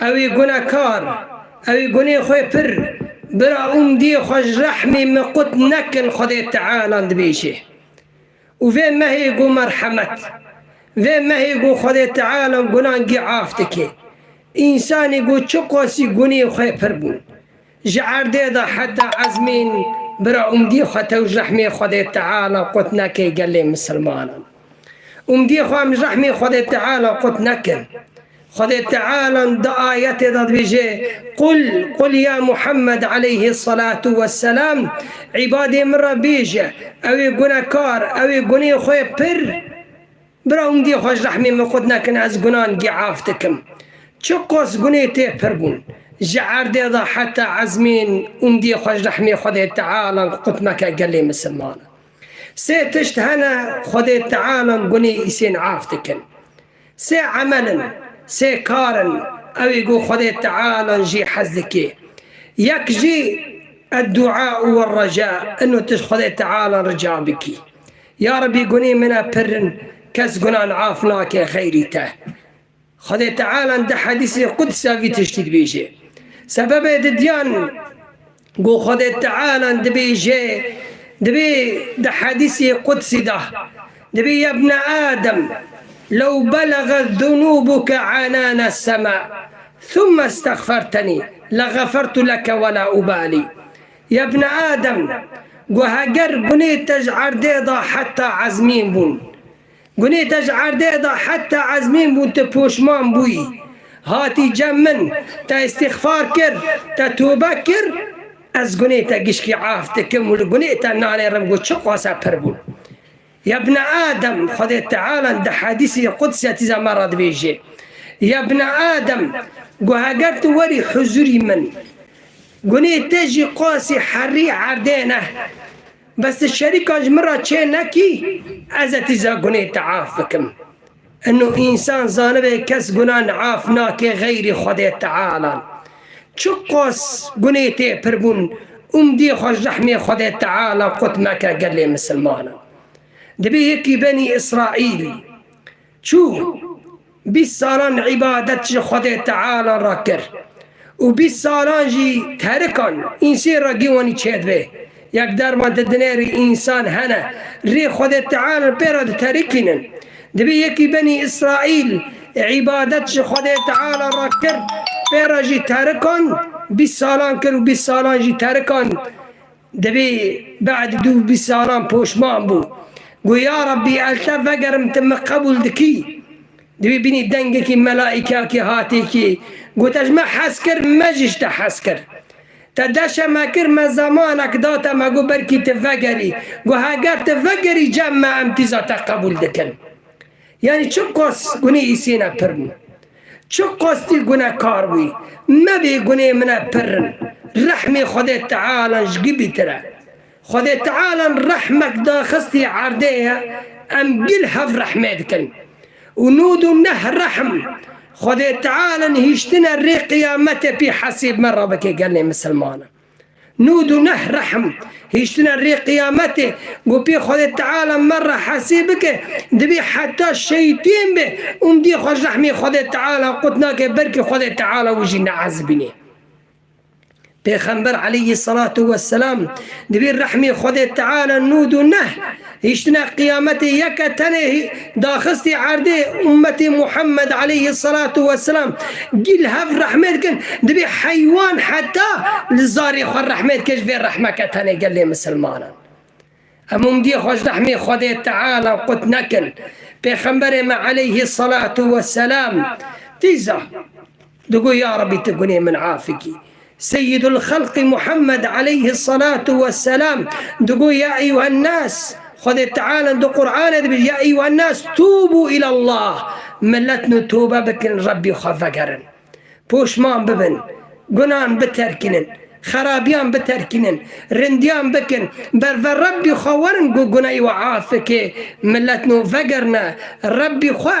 Ew ê gune kar, ew ê gunê xwe pir bira umdiyê xwe ji rehmê min qut nekin Xwedê Teala dibêje. Û vê mehê ku merhemet, vê mehê ku Xwedê Teala gunan gî af dike, însanê ku çiqasî gunê xwe pir bûn, Ji erdê de heta ezmîn bira umdî xwe tew ji rehmê Xwedê Teala qut neke gelê misilmanan. Umdî xwe em ji rehmê Xwedê Teala qut nekin. Xwedê Teala di ayetê de dibêje, Qul, Qul ya Muhammed eleyhî selatû wesselam, îbadê min re bêje, ew ê gunekar, ew ê gunê xwe pir, Bira hûn gê xwe ji rehmê min xurt nekin ez gunan gê af dikim. Çi qas gunê tê pir bûn. Ji erdê de heta ezmên hûn gê xwe ji rehmê Xwedê Teala in qut meke gelê misilmanan. Sê tişt hene Xwedê Teala in gunê Îsên af dikin. Sê emel in, sê kar in ew ê ku Xwedê Teala in jê hez dikê. Yek jî Eddu'a u Erreca in û tişt Xwedê Teala in rica bikî. Ya Rebî gunên min e pirr in, kes gunan af nake xeyrî te. Xwedê Teala di hedîsê Quds e vî tiştî dibêje. Sebebê didiyan ku Xwedê Teala dibêje dibê di hedîsê Qudsî de dibê yebne Adem lew beleget zunûbuke enane sema thumme stexfertenî legefertu leke wela ubalî Ya bne Adem, guh eger gunê te ji erdê de heta ezmîn bûn. Gunê te ji erdê de heta ezmîn bûn tu poşman bûyî, hatî cem min, te îstîxfar kir, te tûbe kir, ez gunê te gişkî af dikim û li gunê te nanêrim ku çi qasa pir bûn. Ya bne Adem, Xwedê Teala di hedîsî Quds ya tîza me ra dibêje, Ya bne Adem, goh eger tu werî huzurî min, gunê te jî qasî herrî erdê ne, bes tu şerîkan ji min ra çê nekî, ez e tîza gunê te af bikim. Ino însan zanibe kes gunan af nake xeyrî Xwedê Teala. Çi qas gunê tê pirbûn, umdî xwe ji rehmê Xwedê Teala qut meke gelê misilmanan. Dibe yekî benî Îsraîl çû bîst salan îbadet ji Xwedê Teala re kir. Û bîst salan jî terikan însên re gîwanî çêdibe. Yek derman di dinê rê însan hene, rê Xwedê Teal pê re diterikînin. Dibê yekî benî Îsraîl îbadet ji Xwedê Teal re kir, pê re jî terikan bîst salan kir û bîst salan jî terikan Dibî bad dû bi salan poşman bû. Got, Ya Rabbî eltev vegerim tu min qebûl dikî? Dibî bînî dengekî melaîkakî hatî kî got, Ez ji me hez kir, me jî ji te hez kir. Te deşe me kir, me zemanek da te, me got belkî tu vegerî. Got, Heger tu vegerî cem me em tîza te qebûl dikin. Yanî çi qas gunê Îsêne pir bû. Çi qas tî gunekar bûyî. Mebê gunê mine pir rin. Rehmê Xwedê Tealan ji gilî tir e. Xwedê Tealan rehmek daxistî erdê ye, em gil hev rehmê dikin. Û nûd û neh rehm. Xwedê Tealan hîştine rê qiyametê pî hesêb me rabike gelnê misilmanan. Nûd û neh rehm, hiştina rê qiyametê ku pê Xwedê Teala me re hesê bike divê heta şeytên be û mdî xwe ji rehmê Xwedê Teala qut nake belkî Xwedê Teala wî jî neezibînê. Pêxember Eleyhî Selatû Weselam divê rehmê Xwedê Teala nûd û neh Hiştina qiyametê yeke tenê daxistî erdê ummetê Muhammed aleyhi salatu we selam gî li hev rehmê dikin, dibê heywan heta li zarê xwe rehmê dike ji vê rehmeke tenê gelê misilmanan. Em umdiyê xwe ji rehmê Xwedê Teala qut nekin. Pêxemberê me aleyhi salatu we selam tîza. Digo ya Rebî tu gunê min af bikî. Seyyîdulxelqî Muhammed eleyhisselatu wesselam digo ya eyyuhennas, Xwedê Teala di Quranê de bêje ya eyyuhennas tûbû îlallah, milet nû tobe bikin Rebî xwe vegerin. Poşman bibin, gunan biterkînin, xerabîyan biterkînin, rindiyan bikin, berve Rebî xwe werin ku guneyê we af bike, milet nû vegerine Rebî xwe.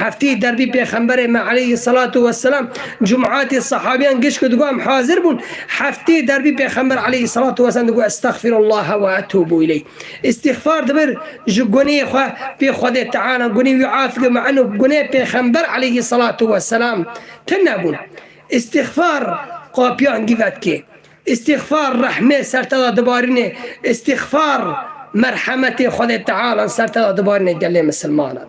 Heftî derbî pêxemberê me eleyhî selatû weselam cumatî sehabîyan giş ku digot em hazir bûn, heftî derbî pêxember eleyhî selatû weselam digot estexfîrullaha ve etûbû îleyh. Îstîxfar dibir ji gunehê xwe pê Xwedê Teala gunê wî af bike me enû guneh pêxember eleyhî selatû weselam tine bûn. Îstîxfar qapîyan dî vedikê. Îstîxfar rehmê ser te de dibarînê, îstîxfar merhemetê Xwedê Tealan ser te de dibarînê gelê misilmanan.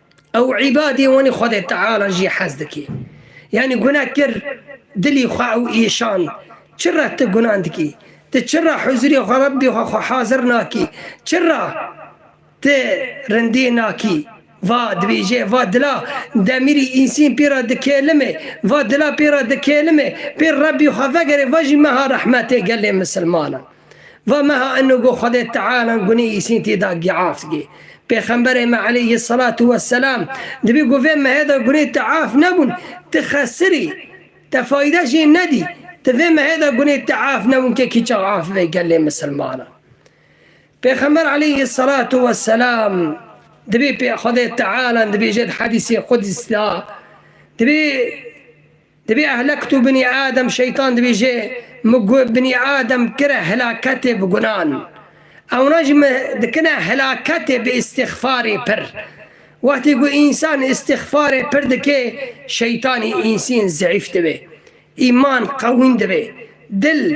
Ew îbadê wanê Xwedê Teala jî hez dike. Yanî guna kir dilî xwe ew îşand. Çi re tu gunan dikî? Tu çi re huzûrê xwe Rebbê xwe xwe hazir nakî? Çi re tu rindî nakî? Va dibêje, va dila demîrî însîn pê re dikêlime, va dila pê re dikêlime, pê Rebbê xwe vegerê, va jî meha rehmetê gelê misilmanan. Va meha inu go Xwedê Teala gunê Îsîn tî da giaft gê. Pêxemberê me eleyhîsselatu wesselam dibî go vê mehê da gunê tiaf nebûn, ti xesir î, te fayde jê nedî, ti vê mehê da gunê tiaf nebûn ke kî çax af bibê gelê misilmanan. Pêxember eleyhîsselatu wesselam dibî pê Xwedê Teala dibêje di hedîsê Qudîs da, dibî, Dibê ehlektu binî Adem Şeytan dibêje Min gu binî Adem kire helaketê bi gunan. Ewna jî min dikine helaketê bi îstîxfarê pir. Wextê ku însan îstîxfarê pir dike Şeytanî însîn zeîf dibe. Îman qewîn dibe. Dil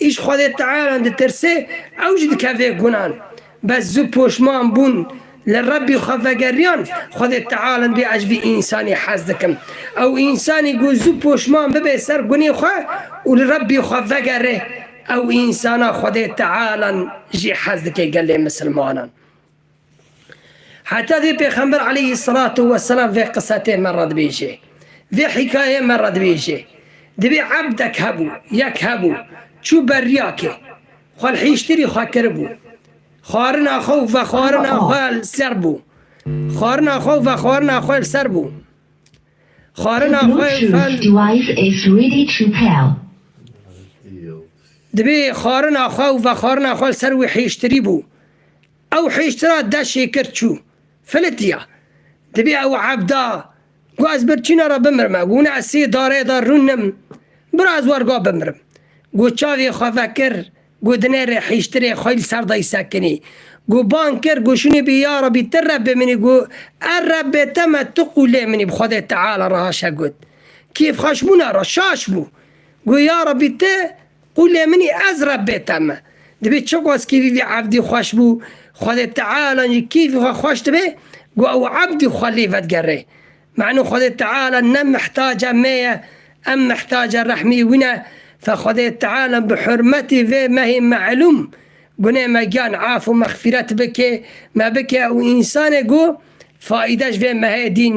Îş Xwedê Tealan ditirsê, ew jî dikeve gunan. Bes zû poşman bûn, li Rebbî xwe vegeriyan, Xwedê Tealan bê ez ji vî însanî hez dikim. Ew însanî ku zû poşman bibe ser gunê xwe û li Rebbî xwe vegere, ew însana Xwedê Tealan jî hez dike gelê misilmanan. Heta vê Pêxember aleyhî selatu we selam vê qisetê me re dibêje, vê hîkayeyê me re dibêje, Divê ebdek hebû, yek hebû, çû ber riya kê, xwe li hîştirî xwe kiribû, xwarina xwe û vexwarina xwe li ser bû, xwarina xwe û vexwarina xwe li ser bû, xwarina xwe û ve. Divê xwarina xwe û vexwarina xwe li ser wî hîştirî bû. Ew hiştra de şêkir çû. Filitiya. Dibê ew evda. Gu ez birçîna re bimirime. Gu ne ez sê darê de rûnim. Bira ez werga bimirim. Gu çavê xwe vekir. Gu dinê rê hiştirê xwe li ser dayî sekinî. Gu bang kir. Gu şinî bî ya Rebî ti Rebê min î. Gu e Rebê te me tu qûlê min î bi Xwedê Teala re haşa got. Kêfxweşbûna re şaş bû. Gu ya Rebî ti Û lê min î ez re bê tem e. Divê çiqas kîfî vî evdî xweş bû, Xwedê Tealan jî kîfî xwe xweş dibê ku ew evdî xwe lê vedigerê. Menu Xwedê Teala ne mihtaca me ye, em mihtaca rehmî wî ne. Fe Xwedê Teala bi hurmetî vê mehê meelûm gunê me giyan af û mexfîret bikê, me bikê ew însanê ku faîde ji vê mehê dîn